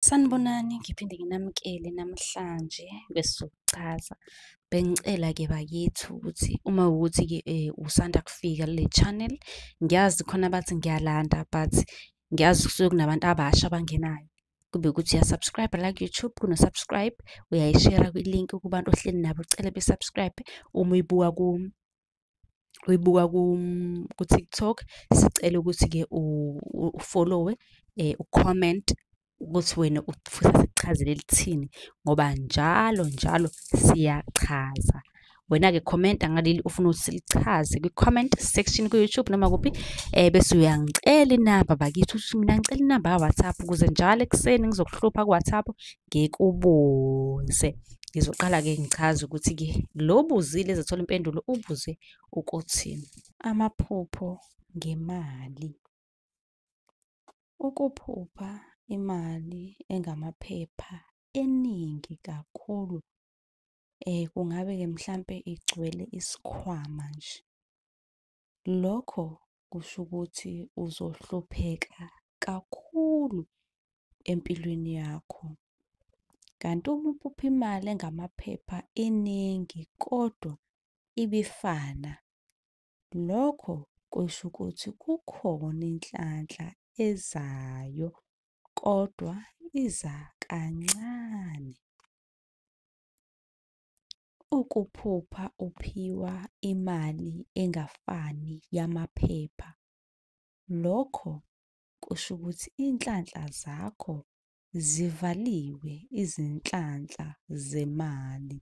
Sanibonani, ngiphinde nginamukele namhlanje kwesizokuchaza. Bengicela-ke bakithi ukuthi uma wukuthi-ke usanda kufika kule channel, ngiyazi khona abathi ngiyalanda but ngiyazi kusuke kunabantu abasha abangenayo. Kube ukuthi uya-subscribe la ku-YouTube, kuno-subscribe, uyayishera kwi-link kubantu ohleli nabo ucele be-subscribe uma uyibuka uyibuka ku-TikTok sicela ukuthi-ke ufollowe eh, ucomment ukuthi wena ufisa sikuchazele lithini ngoba njalo njalo siyachaza wena-ke commenta ngaleli ufuna ukuthi silichaze kwi-comment section ku-youtube noma kuphi um bese uyangicela inamba bakithi ukuthi mina ngicela inamba ka-whatsapp ukuze njalo ekuseni ngizokuhlupha ku-whatsapp ngikubuze ngizoqala-ke ngichaze ukuthi-ke lo buzile ezathola impendulo ubuze ukuthi amaphupho ngemali ukuphupha imali engamaphepha eningi kakhulu um kungabe-ke mhlampe igcwele isikhwama nje Lokho kusho ukuthi uzohlupheka kakhulu empilweni yakho. Kanti uma uphupha imali engamaphepha eningi kodwa ibifana, lokho kusho ukuthi kukhona inhlanhla ezayo kodwa iza kancane. Ukuphupha uphiwa imali engafani yamaphepha, lokho kusho ukuthi inhlanhla zakho zivaliwe izinhlanhla zemali.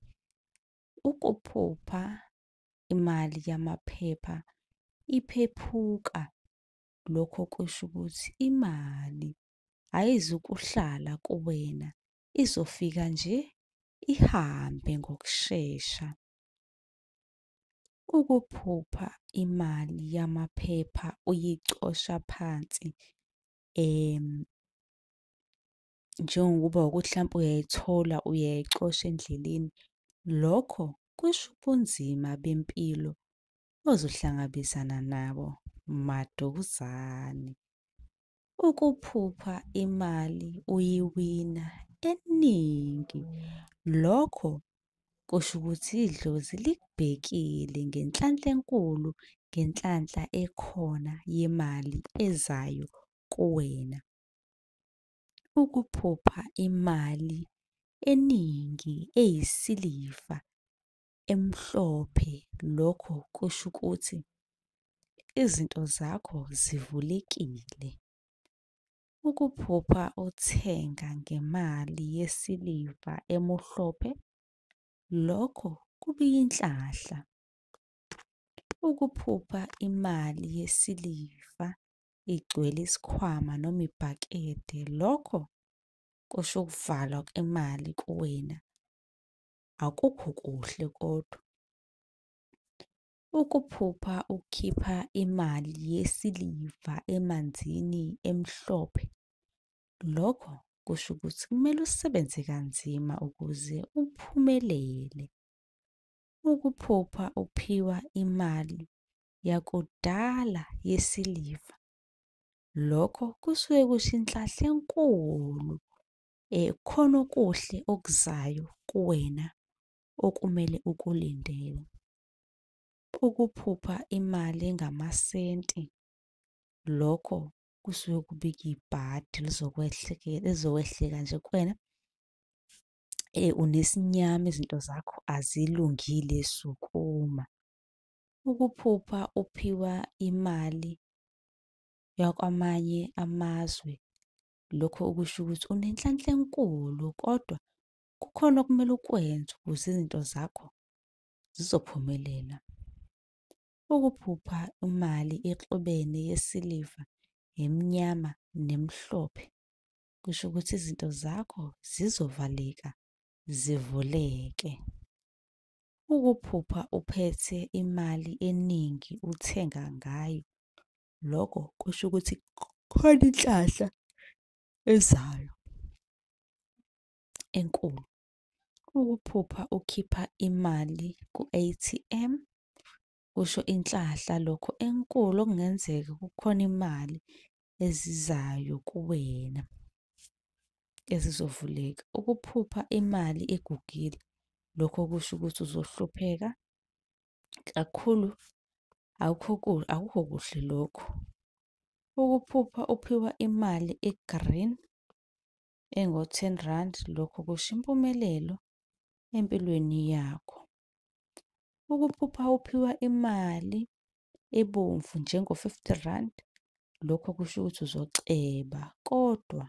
Ukuphupha imali yamaphepha iphephuka, lokho kusho ukuthi imali ayizukuhlala kuwena izofika nje ihambe ngokushesha. Ukuphupha imali yamaphepha uyicosha phansi em njengokuba ukuthi hlampe uyayithola uyayicosha endleleni lokho kusho ubunzima bempilo ozohlangabezana nabo maduzane. Ukuphupha imali uyiwina eningi lokho kusho ukuthi idlozi likubhekile ngenhlanhla enkulu ngenhlanhla ekhona yemali ezayo kuwena. Ukuphupha imali eningi eyisiliva emhlophe lokho kusho ukuthi izinto zakho zivulekile. Ukuphupha uthenga ngemali yesiliva emuhlophe lokho kubiyinhlahla. Ukuphupha imali yesiliva igcwele isikhwama noma ibhakede lokho kusho ukuvalwa kwemali kuwena. akukho kuhle kodwa. Ukuphupha ukhipha imali yesiliva emanzini emhlophe, lokho kusho ukuthi kumele usebenze kanzima ukuze uphumelele. Ukuphupha uphiwa imali yakudala yesiliva, lokho kusuke kusho inhlanhla enkulu eh khona okuhle okuzayo kuwena okumele ukulindele. Ukuphupha imali engamasenti lokho kusuke kubika ibhadi lizokwehleka nje kuwena eh unesinyama izinto zakho azilungile sukuma. Ukuphupha uphiwa imali yakwamanye amazwe Lokho okusho ukuthi unenhlanhla enkulu kodwa kukhona okumele ukwenze ukuze izinto zakho zizophumelela. Ukuphupha imali exubene yesiliva nemnyama nemhlophe kusho ukuthi izinto zakho zizovaleka zivuleke. Ukuphupha uphethe imali eningi uthenga ngayo lokho kusho ukuthi khona inhlahla ezayo enkulu. Ukuphupha ukhipha imali ku-A_T_M kusho inhlahla lokho enkulu okungenzeka kukhona imali ezizayo kuwena ezizovuleka. Ukuphupha imali egugile lokho kusho ukuthi uzohlupheka kakhulu akukho ku- akukho kuhle lokhu ukuphupha uphiwa imali egreen engo-10 rand lokho kusho impumelelo empilweni yakho ukuphupha uphiwa imali ebomvu njengo-50 rand lokho kusho ukuthi uzoceba kodwa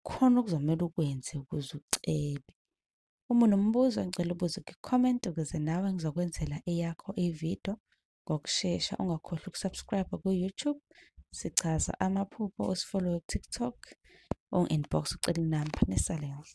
khona okuzomele ukwenze ukuze ucebe. Uma unombuzo ngicela ubuze kwi-comment ukuze nawe ngizokwenzela eyakho i-video ngokushesha. Ungakhohlwa ukusubscribe ku-YouTube, sichaza amaphupho, usifollowe ku-TikTok, ungi-inbox ucele inamba. Nisale kahle.